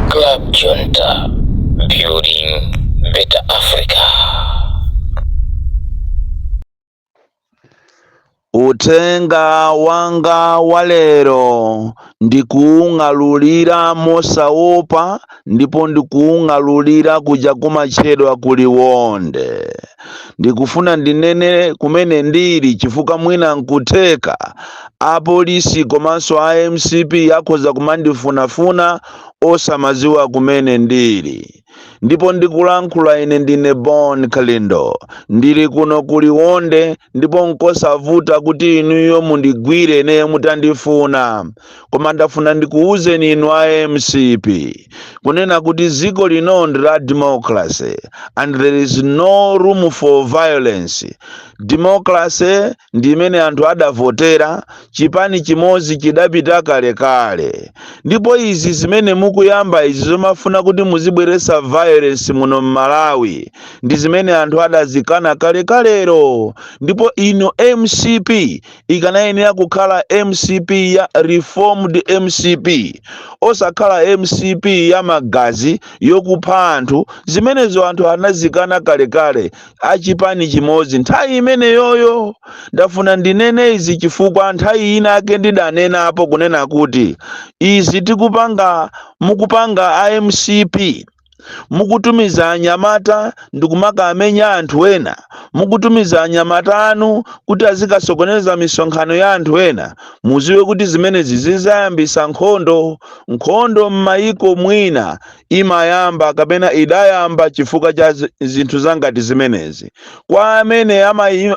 Club Junta, building better Africa. Uthenga wanga walero ndikuung'alulira mosaopa ndipo ndikuung'alulira kuja kumatchedwa ku Liwonde. Ndikufuna ndinene kumene ndili chifukwa mwina nkutheka Apolisi komanso a mcp akhoza kumandifunafuna osamadziwa kumene ndili. Ndipo ndikulankhula ine ndine Bon Kalindo. Ndili kuno ku Liwonde ndipo nkosavuta kuti inuyo mundigwire ineyo mutandifuna. Koma ndafuna ndikuuzeni inu a mcp kunena kuti dziko lino ndi la democracy and there is no room for violence. Democracy. ndi imene anthu adavotera chipani chimodzi chidapita kalekale ndipo izi zimene mukuyamba izi zomafuna kuti muzibweretsa violence muno mmalawi ndi zimene anthu adazikana kalekalero ndipo inu mcp ikanayenera kukhala mcp ya reformed mcp osakhala mcp ya magazi yokupha anthu zimenezo anthu anazikana kalekale a chipani chimodzi nthawi imeneyoyo ndafuna ndinene izi chifukwa nthawi inayake ndidanenapo kunena kuti izi tikupanga mukupanga a mcp mukutumiza anyamata ndikumakamenya anthu ena mukutumiza anyamata anu kuti azikasokoneza misonkhano ya anthu ena muziwe kuti zimenezi zizayambisa nkhondo nkhondo m'mayiko mwina imayamba kapena idayamba chifukwa cha zinthu zangati zimenezi kwa amene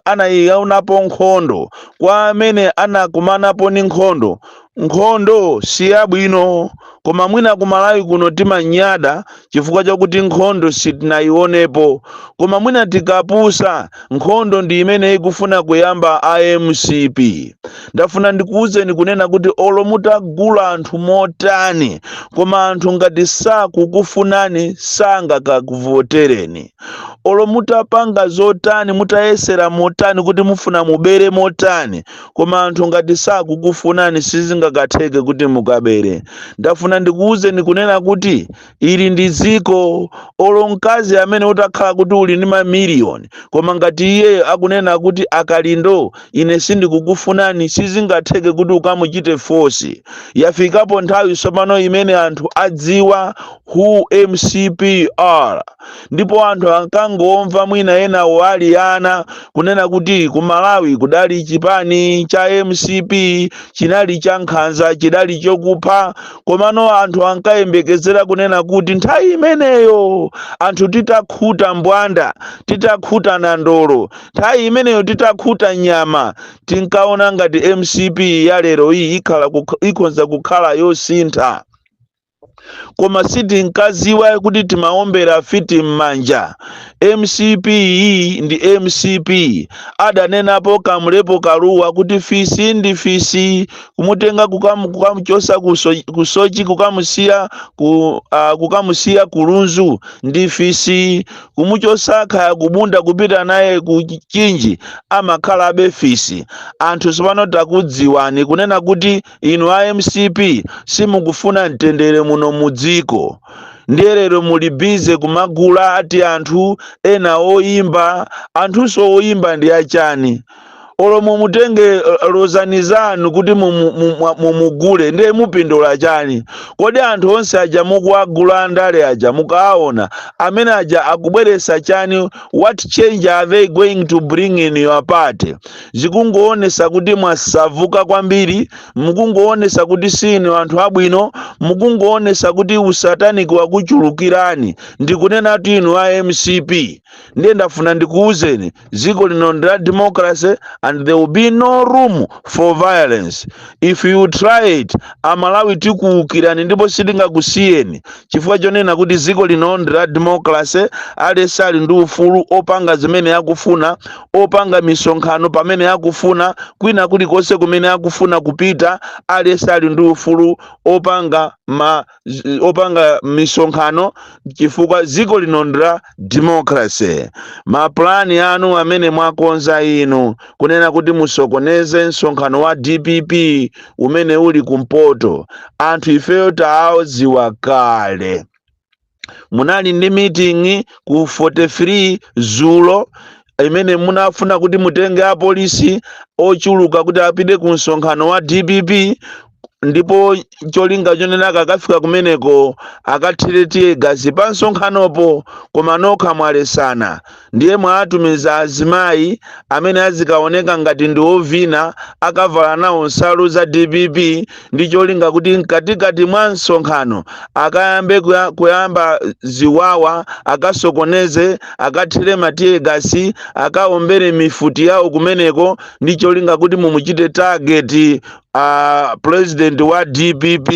anaionapo nkhondo kwa amene anakumanapo ndi nkhondo nkhondo si yabwino koma mwina ku malawi kuno timanyada chifukwa chakuti nkhondo sitinayionepo koma mwina tikapusa nkhondo ndi imene ikufuna kuyamba a mcp ndafuna ndikuwuzeni kunena kuti olo mutagula anthu motani koma anthu ngati sakukufunani sangakakuvotereni olo mutapanga zotani mutayesera motani kuti mufuna mubere motani koma anthu ngati sakukufunani sizingakatheke kuti mukabere ndafuna ndikuwuzeni kunena kuti ili ndi dziko olo mkazi amene utakhala kuti uli ndi mamiliyoni koma ngati iye akunena kuti a Kalindo ine sindikukufunani sizingatheke kuti ukamuchite force yafikapo nthawi tsopano imene anthu adziwa who mcp are ndipo anthu ankangomva mwina enawo ali ana kunena kuti ku malawi kudali chipani cha mcp chinali cha nkhanza chidali chokupha komano anthu ankayembekezera kunena kuti nthawi imeneyo anthu titakhuta mbwanda titakhuta nandolo nthawi imeneyo titakhuta nyama tinkaona ngati mcp ya lero iyi ikhala kukh- ikhonza kukhala yosintha koma sitinkaziwa kuti timaombera fiti m'manja mcp iyi ndi mcp adanenapo kamulepo kaluwa kuti fisi ndi fisi kumutenga kukamu- kukamuchosa ku so- ku sochi kukamusiya ku uh, kukamusiya ku lunzu ndi fisi kumuchosa khaya kubunda kupita naye ku chinji amakhalabe fisi anthu sopano takudziwani kunena kuti inu a mcp simukufuna mtendere muno mu dziko ndiye lero muli bize kumagula ati anthu ena oyimba anthunso oyimba ndi achani olo mumutenge eh, lozani zanu kuti mumu- mumu- mumugule ndiye mupindula chani kodi anthu onse aja mukuwagula andale aja mukaona amene aja akubweresa chani what change are they going to bring in your party zikungoonesa kuti mwasavuka kwambiri mukungoonesa kuti sinu anthu abwino mukungoonesa kuti usataniki wakuchulukirani ndikunena kuti inu a mcp ndiye ndafuna ndikuwuzeni dziko lino ndi la democracy and there will be no room for violence if you try it amalawi tikuukirani ndipo sitingakusiyeni chifukwa chonena kuti dziko lino ndi la democracy aliyense ali ndi ufulu opanga zimene akufuna opanga misonkhano pamene akufuna kwina kulikonse kumene akufuna kupita aliyense ali ndi ufulu opanga ma zi- opanga misonkhano chifukwa dziko lino ndi la democracy mapulani anu amene mwakonza inu kunena kuti musokoneze msonkhano wa dpp umene uli kumpoto anthu ifeyo taadziwa kale munali ndi meeting ku 43 dzulo imene munafuna kuti mutenge apolisi ochuluka kuti apite ku msonkhano wa dpp ndipo cholinga chonena akakafika kumeneko akathire tiye gasi pa msonkhanopo koma nokha mwaletsana ndiye mwatumiza azimayi amene azikaoneka ngati ndi ovina akavala nawo nsalu za dpp ndi cholinga kuti mkatikati mwa msonkhano akayambe kuya- kuyamba ziwawa akasokoneze akathire matiye gasi akaombere mifuti yawo kumeneko ndi cholinga kuti mumuchite tageti a president wa dpp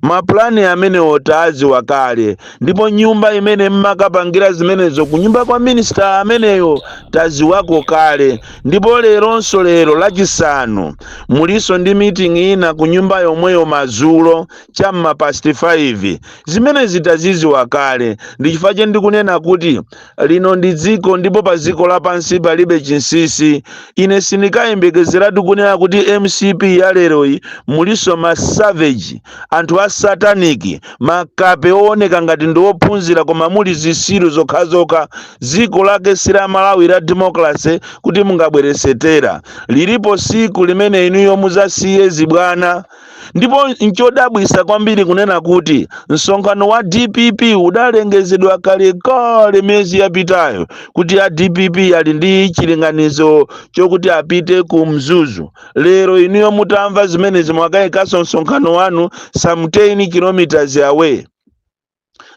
mapulani amenewo tawaziwa kale ndipo nyumba imene mmakapangira zimenezo ku nyumba kwa minisita ameneyo taziwako kale ndipo leronso lero lachisanu mulinso ndi meeting ina ku nyumba yomweyo mazulo cha mmapasti 5 zimenezi taziziwa kale ndichifukwa che ndikunena kuti lino ndi dziko ndipo pa dziko lapansi palibe chinsinsi ine sindikayembekezeratu kunena kuti mcp ya leroyi mulinso ma savage anthu a sataniki makape owoneka ngati ndi ophunzira koma muli zisiru zokhazokha dziko lake si la malawi la demokrase kuti mungabweresetera lilipo siku limene inuyo muzasiye zibwana ndipo nchodabwisa kwambiri kunena kuti msonkhano wa dpp udalengezedwa kalekale miyezi yapitayo kuti a dpp ali ndi chilinganizo chokuti apite ku mzuzu lero inuyo mutamva zimenezi mwakayikanso msonkhano wanu some 10 kilometers away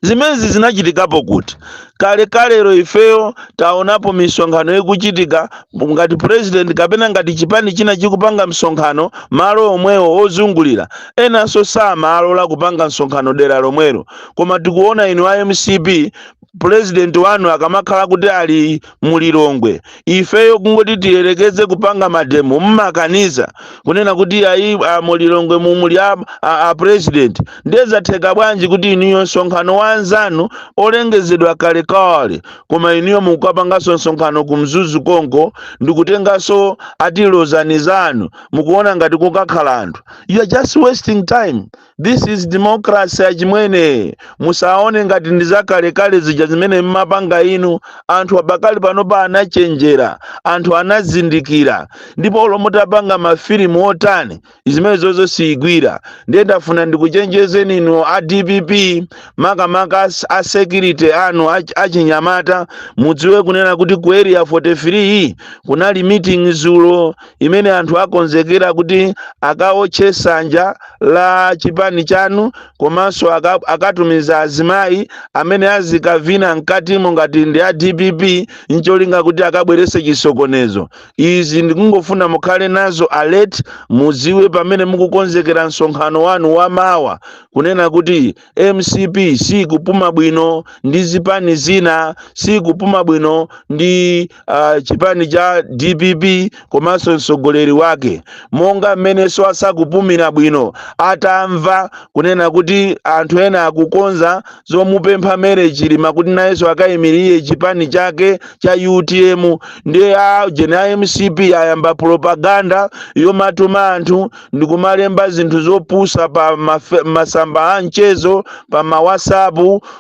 zimenezi zinachitikapo kuti kalekalero ifeyo taonapo misonkhano ikuchitika ngati president kapena ngati chipani china chikupanga msonkhano malo omwewo ozungulira enanso samalola kupanga msonkhano dera lomwelo koma tikuona inu a mcp president wanu akamakhala kuti ali mu lilongwe ifeyo kungoti tiyerekeze kupanga mademo mmakaniza kunena kuti ayi a mu lilongwe mumuli a, a, a president ndiye zatheka bwanji kuti inuyo msonkhano wa anzanu olengezedwa kalekale koma inuyo mukukapanganso msonkhano ku mzuzu konko ndikutenganso atilozani zanu mukuona ngati kukakhala anthu you are just wasting time This is democracy achimwene. Musaone ngati ndi zakalekale zija zimene mmapanga inu. Anthu pakali panopa anachenjera, anthu anazindikira. Ndipo olo mutapanga mafilimu otani, zimenezozo siyigwira. Ndiye ndafuna ndikuchenjezeni inu a DPP, makamaka as- a security anu ach- achinyamata, mudziwe kunena kuti ku area 43 kunali meeting zulo imene anthu akonzekera kuti akawotche sanja la chipani chanu komanso aka- akatumiza azimayi amene azikavina mkatimo ngati ndi a dpp ncholinga kuti akabwerese chisokonezo izi ndikungofuna mukhale nazo alert muziwe pamene mukukonzekera msonkhano wanu wamawa kunena kuti mcp siikupuma bwino ndi zipani zina siikupuma bwino ndi uh, chipani cha dpp komanso mtsogoleri wake monga mmenenso asakupumira bwino atamva kunena kuti anthu ena akukonza zomupempha Mary chilima kuti nayenso akayimirire chipani chake cha utm ndiye ajeni a mcp ayamba propaganda yomatuma anthu ndi kumalemba zinthu zopusa pa mafe- masamba a mchezo pa ma whatsapp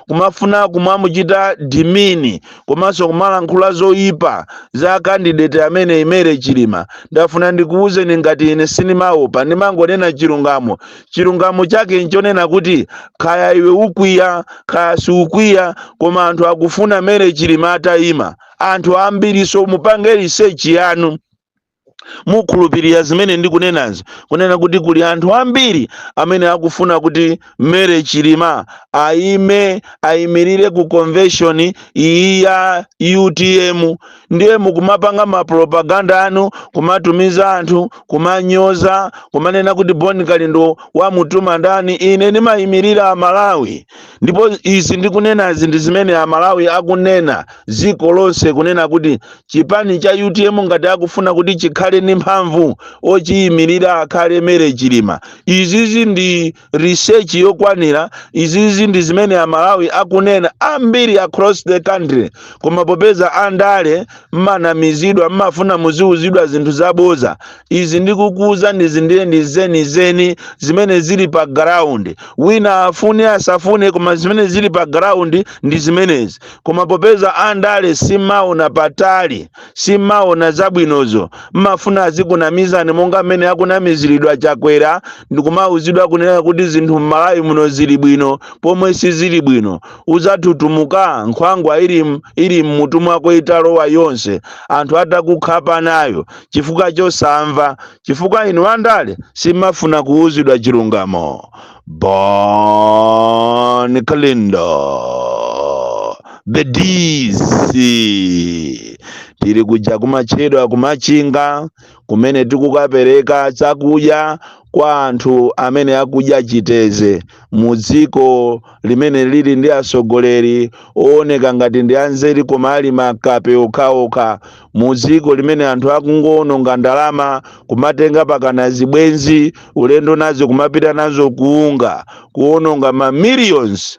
kumafuna kumamuchita demean komanso kumalankhula zoyipa za candidate ameneyi mary chilima ndafuna ndikuwuzeni ngati ine sinimaopa ndimangonena chilungamo chilungamo chake nchonena kuti kaya iwe ukwiya kaya siukwiya koma anthu akufuna mary chilima atayima anthu ambiri so mupange research yanu mukhulupirira zimene ndikunenazi kunena kuti kuli anthu ambiri amene akufuna kuti mary chilima ayime ayimirire ku convention iyi ya utm ndiye mukumapanga mapropaganda anu kumatumiza anthu kumanyoza kumanena kuti bon kalindo wamutuma ndani ine ndimayimirira amalawi ndipo izi ndikunenazi ndi zimene amalawi akunena dziko lonse kunena kuti chipani cha utm ngati akufuna kuti chikhale ndi mphamvu ochiyimirira akhale mary chilima izizi ndi research yokwanira izizi ndi zimene amalawi akunena ambiri across the country koma popeza andale mmanamizidwa mmafuna muziwuzidwa zinthu zaboza izi ndikukuuzanizi ndiye ndi zenizeni zimene zili pa ground wina afune asafune koma zimene zili pa ground ndi zimenezi koma popeza andale simaona patali simaona zabwinozo mmafuna azikunamizani monga mmene akunamiziridwa chakwera ndikumauzidwa kunena kuti zinthu mmalawi muno zili bwino pomwe sizili bwino uzatutumuka nkhwangwa ili m- ili mmutu mwako italowa yonse anthu atakukhapa nayo chifukwa chosamva chifukwa inu andale simafuna kuuzidwa chilungamo bon kalindo the dc tili kuja kumatchedwa kumachinga kumene tikukapereka chakudya kwa anthu amene akudya chiteze mu dziko limene lili ndi atsogoleri ooneka ngati ndi anzeru koma ali makape okhaokha mu dziko limene anthu akungowononga ndalama kumatenga pakana zibwenzi ulendo nazo kumapita nazo ku unga kuwononga ma millions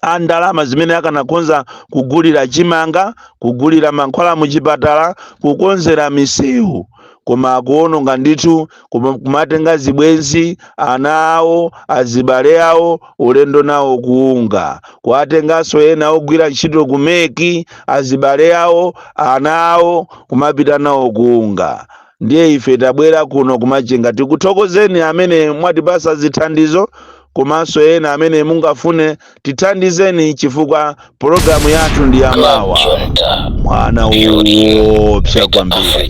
a ndalama zimene akanakhonza kugulira chimanga kugulira mankhwala muchipatala kukonzera misewu koma akuononga ndithu kumatenga zibwenzi ana awo azibale awo ulendo nawo ku unga kuwatenganso ena ogwira ntchito ku mec azibale awo ana awo kumapita nawo ku unga ndiye ife tabwera kuno kumachinga tikuthokozeni amene mwatipasa zithandizo komanso ena amene mungafune tithandizeni chifukwa pologalamu yathu ndi ya mawa mwana woopsa kwambiri